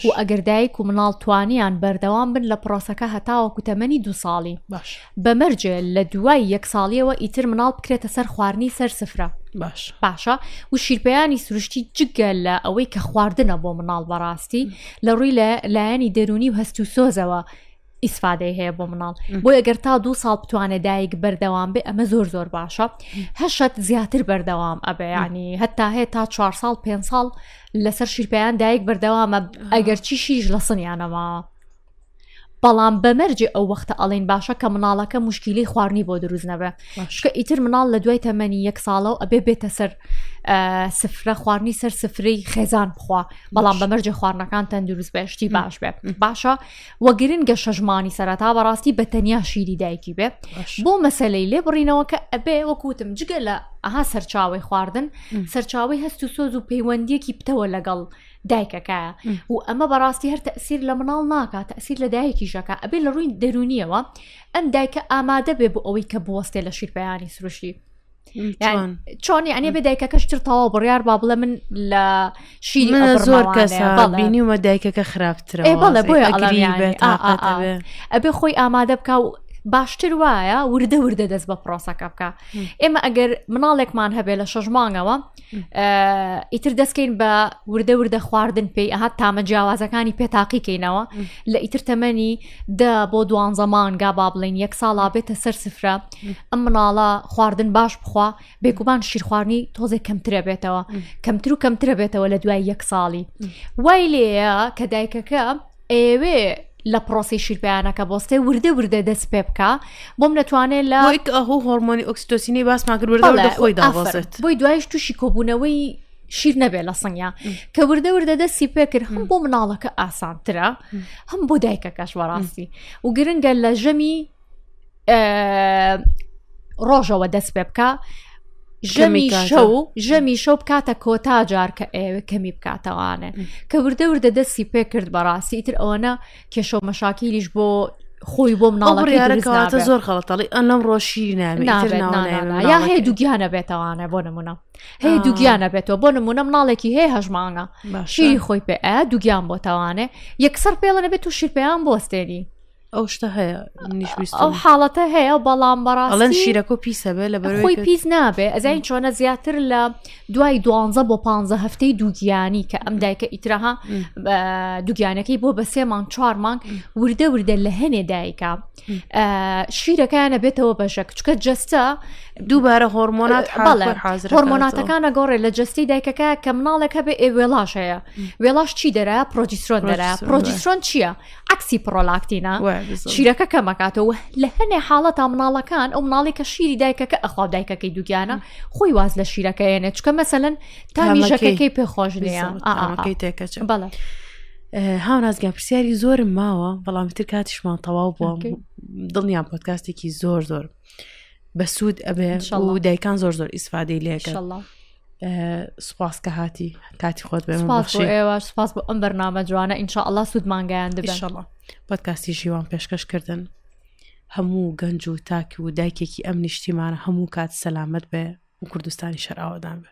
و ئەگەر دایک و مناڵ توانیان بەردەوام بن لە پرۆسەکە هەتاوە کوتەمەنی دو ساڵی باش بە مەرجێ لە دوای یەک ساڵیەوە ئیتر مناڵ بکرێتە سەر خواردنی سەر سفرە باش باشە و شیرپیانی سروشتی جگە لە ئەوەی کە خواردنە بۆ مناڵ بەڕاستی لە ڕووی لە لایەنی دەرونی و هەست و سۆزەوە ئیسفادەی هەیە بۆ مناڵ بۆ ئەگەر تا دوو ساڵ بتوانێت دایک بەردەوام بێ ئەمە زۆر زۆر باشە هەشت زیاتر بەردەوام ئەبیانی هەتا هەیە تا چوار ساڵ پێ ساڵ لەسەر شیرپیان دایک بەردەوامە ئەگەر چی شیش لە سنیانەماوە بەڵام بە مەرجێ ئەو وەختە ئەڵین باشە کە مناڵەکە مشکلی خواردنی بۆ دروست نەبێ شکە ئیتر مناڵ لە دوای تەمەنی یەک ساڵە و ئەبێ بێتە سەر سفرە خواردنی سەر سفری خێزان بخوا بەڵام بە مەرجێ خواردنەکان تەندروست بەشتی باش بێ باشە وەگرن گە شەژمانی سەرەتا بەڕاستی بە تەنیا شیری دایکی بێ بۆ مەسلەی لێ بڕینەوە کە ئەبێ وەکوتم جگە لە ئەها سەرچاوی خواردن سەرچاوی هەست و سۆز و پەیوەندیەکی پتەوە لەگەڵ دایکەکە و ئەمە بەڕاستی هەر تەسیر لە مناڵ ناکات تەسیر لە دایکیشەکە ئەبێ لە ڕووی دەرونیەوە ئەم دایکە ئامادە بێ بۆ ئەوەی کە بوەستێ لە شیرپیانی سروشتی چۆنی ئەنێ بێ دایکەکەشتر تەواو بڕیار با بڵێ من لە شیر زۆر کەسبینیومە دایکەکە خراپترە بڵێ بۆ ئەبێ خۆی ئامادە بکە و باشتر وایە وردە وردە دەست بە پرۆسەکە بکە ئێمە ئەگەر مناڵێکمان هەبێ لە شەژمانەوە ئیتر دەستکەین بە وردە وردە خواردن پێی ئەها تامە جیاوازەکانی پێتاقیکەینەوە لە ئیتر تەمەنی دە بۆ دوان زەمان گا با بڵین یەک ساڵا بێتە سەر سفرە ئەم مناڵە خواردن باش بخوا بێگومان شیرخواردنی تۆزێک کەمترە بێتەوە کەمتر و کەمترە بێتەوە لە دوای یەک ساڵی وای لێە کە دایکەکە ئەیەوێ لە پرۆسی شیرپیانەکە بۆستێ وردە وردە دەست پێ بکە بۆم نەتوانێت لە ئەه هۆرمۆنی ئۆکسسیتۆسینی باسمان کرد وردە خۆی داڵێت بۆی دوایش تووشی کۆبوونەوەی شیر نەبێ لە سنگیا کە وردە وردە دەستی پێکرد هەم بۆ مناڵەکە ئاسانترە هەم بۆ دایکەکەش وەڕاستی و گرنگە لە ژەمی ڕۆژەوە دەست پێ بکە ژەمی شەو ژەمی شەو بکاتە کۆتا جار کە ئێوە کەمی بکاتەوانە کە وردە وردە دەستی پێ کرد بەڕاستی ئیتر ئەوەنە کێشە و مەشاکیلیش بۆ خۆی بۆ مناڵەکەواتە زۆر خەڵەتەڵی ئەم ڕۆشی یا هەیە دوگیانە بێتەوانە بۆ نمونە هەیە دوگیانە بێتەوە بۆ نمونە مناڵێکی هەیە هەژمانە شیری خۆی پێ دوگیان بۆ تاوانێ یەکسەر پێڵە نەبێت و شیرپیان بۆستێنی ئەو شتە هەیە ئەو حاڵەتە هەیە بەڵام بەڕاڵەن شیرەکە و پیسە بێ لە بەرەوەی پیس نابێ ئەزین چۆنە زیاتر لە دوای دوانزە بۆ پ هەفتەی دووگیانی کە ئەم دایکە ئیترەها دوگیانەکەی بۆ بە سێمان چوارمان وردە وردە لە هەنێ دایکە شیرەکەیانە بێتەوە بەشە کچکە جستە دووبارە هۆرمۆنات هۆرمۆناتەکانە گۆڕێ لە جستی دایکەکە کە مناڵێک هەبێ ئێ وێڵاش هەیە وێڵاش چی دەرە پرۆجیسرۆن دەرە پرۆجیسرۆن چییە؟ عکسی پڕۆلاکتینە شیرەکە کەمەکاتەوە لە هەنێ حاڵە تا مناڵەکان ئەو مناڵی کە شیری دایکەکە ئەخوا دایکەکەی دووگیانە خۆی واز لە شیرەکەیەنێت چکە مەسەن تا میژەکەی پێ خۆش نیەکەی تێکەچ بەڵێ. هاونازگە پرسیاری زۆرم ماوە بەڵام تر کاتیشمان تەواو بووە دڵنیان پۆتکاستێکی زۆر زۆر بەسوود ئەبێ و دایکان زۆر زۆر ئیسفادەی لێکە سپاس کە هاتی کاتی خۆت بێ ئێوە سپاس بۆ ئەم بەرنامە جوانە ئینشاء الله سوودمانگەیان دەبێشەڵە پۆتکاسی ژیوان پێشکەشکردن هەموو گەنج و تاک و دایکێکی ئەم نیشتیمانە هەموو کات سەلامت بێ و کوردستانی شەراوەدان بێ